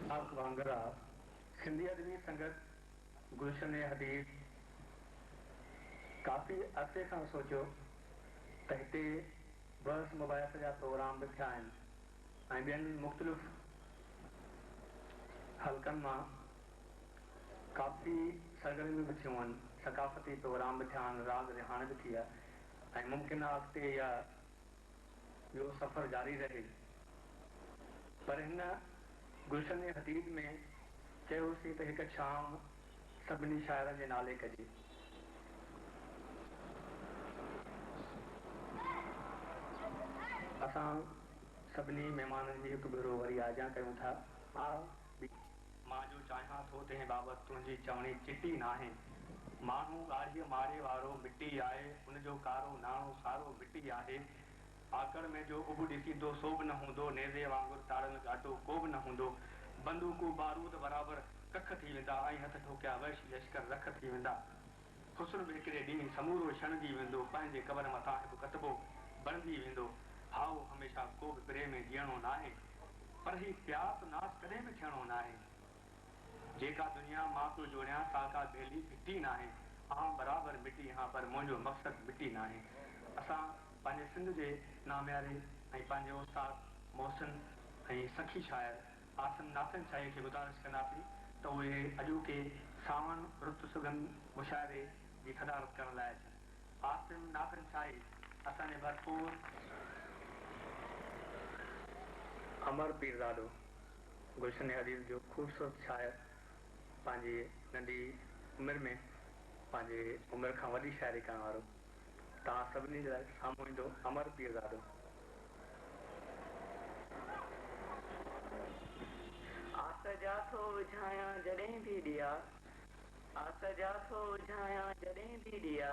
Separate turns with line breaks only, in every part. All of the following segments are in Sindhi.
خاص وانگر آ سنڌي ادبي سنگت گلشن حبيب ڪافي عرصي کان سوچيو ته هتي بحث مباحث جا پروگرام به ٿيا آهن ۽ ٻين مختلف حلقن مان ڪافي سرگرميون به ٿيون هن، ثقافتي پروگرام به ٿيا هن، راڳ رهاڻ به ٿيا ۽ ممڪن آ اڳتي اها اهو سفر جاري رهي پر هن گلشن حديد ۾ چيو هوسين ته هڪ شام سڀني شاعرن جي نالي ڪجي. اسان سڀني مهمانن جي هڪ ڀيرو وري آجيان ڪيون ٿا. آء بي. مان جو چاهيان ٿو تنهن بابت تنهنجي چوڻي چٽي ناهي. ماڻهو ڳاڙهيء ماري وارو مٽي آهي، ان جو ڪارو ناڻو سارو مٽي آهي. آڪڙ ۾ جو اڀ ڏسيندو سو به نه هوندو، نيزي وانگر تاڙيل گاٽو ڪو به نه هوندو، بندوقون بارود برابر ڪک ٿي ويندا ۽ هٿ ٺوڪيا وحشي لشڪر رک ٿي ويندا. حسن به هڪڙي ڏينهن سمورو ڇڻجي ويندو، پنهنجي قبر مٿان هڪ ڪتبو بڻجي ويندو. هائو، هميشه ڪو به پري ۾ جيئڻو ناهي، پر هي پيار ته ناس ڪڏهن به ٿيڻو ناهي. جيڪا دنيا مان پيو جوڻيان سا ڪا ڀيلي ڦٽي ناهي آئون برابر مٽي هان پر منهنجو مقصد مٽي ناهي اسان پنهنجي سنڌ جي نامياري ۽ پنهنجي استاد محسن ۽ سخي شاعر عاصم ناٿن شاهيء کي گذارش ڪنداسين ته اهي اڄوڪي سانوڻ رت سگهن مشاعري جي صدارت ڪرڻ لاء اچن عاصم ناٿن شاهي اسان جي ڀرپور امر پيرزادو گلشن حرير جو خوبصورت شاعر پنهنجي ننڍي عمر ۾ پنهنجي عمر کان وڏي شاعري ڪرڻ وارو توهان سڀني جي لاء سامهون ايندو امر پيرزادو. آس جا ٿو وجهايان جڏهن به ڏيئا. آس جا ٿو وجهايان
جڏهن به ڏيئا.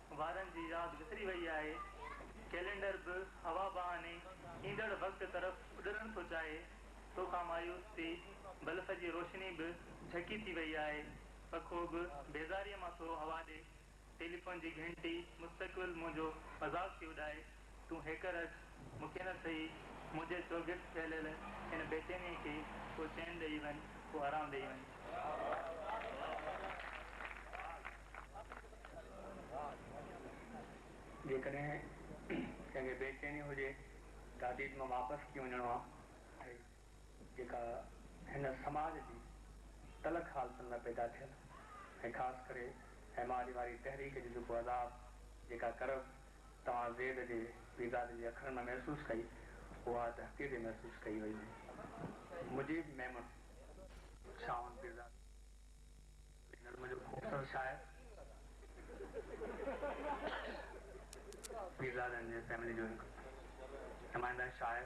وارن جي ياد وسري وئي آهي، ڪئلينڊر به هوا بهاني ايندڙ وقت طرف اڏرڻ ٿو چاهي، تو کان مايوس ٿي بلف جي روشني به جهڪي ٿي وئي آهي، پکو به بيزاريء مان ٿو هوا ڏي، ٽيليفون جي گهنٽي مستقبل منهنجو مذاق ٿي اڏائي. تون هيڪر اچ، مون کي نه سهي، منهنجي چوگرد ڦهليل ان بيچينيء کي ڪو چين ڏيئي وڃ، ڪو آرام ڏيئي وڃ.
جيڪڏهن ڪنهن کي بيچيني هجي ته اديت مان واپس ڪيئن وڃڻو آهي، جيڪا هن سماج جي تلخ حالتن ۾ پيدا ٿيل ۽ خاص ڪري ايم آر اي واري تحريڪ جو جيڪو عذاب، جيڪا ڪرب توهان زيد جي ويزات جي اکرن ۾ محسوس ڪئي، اها ته حقيقي محسوس ڪئي وئي هئي. مجيب ميمڻ. شاهوند پيرزادو هي نظم جو خوبصورت شاعر، پيرزادن جي فيملي جو هڪ نمائنده شاعر،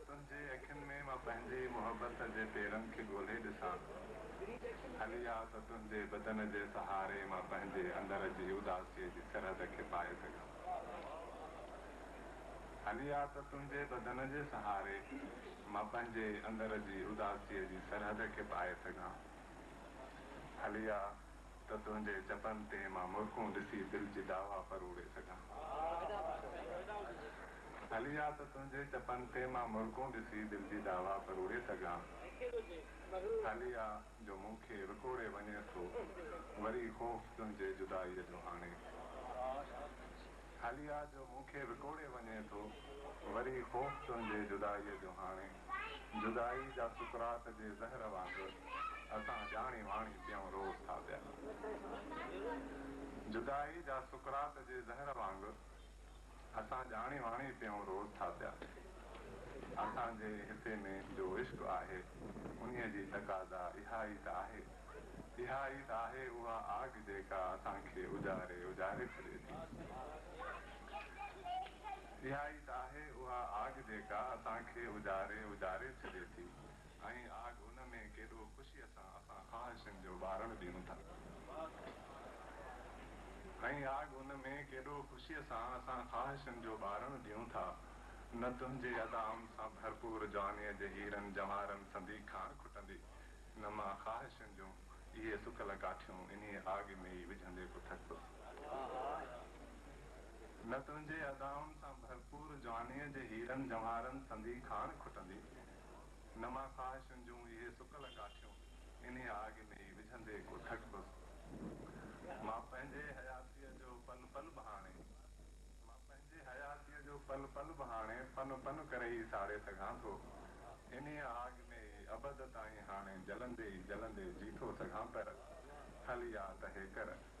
تنهنجي اکين ۾ مان پنهنجي محبت جي پيرن کي ڳولهي ڏسان هلي آ ته تنهنجي بدن جي سهاري مان پنهنجي اندر جي اداسي جي سرحد کي پائي سگهان هلي آ ته تنهنجي بدن جي سهاري مان پنهنجي اندر جي اداسي جي سرحد کي پائي سگهان هلي آ. ته تنهنجي چپن تي مان مرڪون ڏسي دل جي داوا پروڙي سگهان. ڀلي آ ته تنهنجي چپن تي مان مرڪون ڏسي دل جي داوا پروڙي سگهان. ڀلي آ جو مون کي وڪوڙي وڃين ٿو وري خوف تنهنجي جدائيء جو هاڻي. ڀلي آ جو مون کي وڪوڙي وڃين ٿو وري خوف تنهنجي جدائيء جو هاڻي. جدائي جا سڪرات جي زهر وانگر اسان ڄاڻي واڻي پيئون روئون ٿا پيا جدائي جا سڪرات جي زهر وانگر اسان ڄاڻي واڻي پيئون روئون ٿا پيا اسان جي هتي ۾ جو عشق آهي انهي جي تقاضا اها ئي ته آهي اها ئي ته آهي اها آگ جيڪا اسان کي اجاري اجاري ڇڏي ٿي. اها ئي ته آهي اها آگ جيڪا اسان کي اجاري اجاري ڇڏي ٿي ۽ آگ ان ۾ ڪيڏو خوشيء سان اسان خواهشن جو ٻارڻ ڏيون ٿا ۽ آگ ان ۾ ڪيڏو خوشيء سان اسان خواهشن جو ٻارڻ ڏيون ٿا نه تنهنجي ادائن سان ڀرپور جوانيء جي هيرن جواهرن سندي کاڻ کٽندي نه مان خواهشن جون اهي سڪل ڪاٺيون انهيء آگ ۾ ئي وجهندي ڪو ٿڪ هوس. نه تنهنجي ادائن سان ڀرپور جوانيء جي هيرن جونهارن سندي کاڻ کٽندي، نه مان خواهشن جون اهي سڪل ڪاٺيون انهيء آڳ ۾ ئي وجهندي ڪو ٺٽبس. مان پنهنجي حياتيء جو پن پن به هاڻي. مان پنهنجي حياتيء جو پن پن به هاڻي پن پن ڪري ئي ساڙي سگهان ٿو. انهيء آڳ ۾ ئي ابد تائين هاڻي جلندي ئي جلندي جي ٿو سگهان پر هل يا ته هيڪر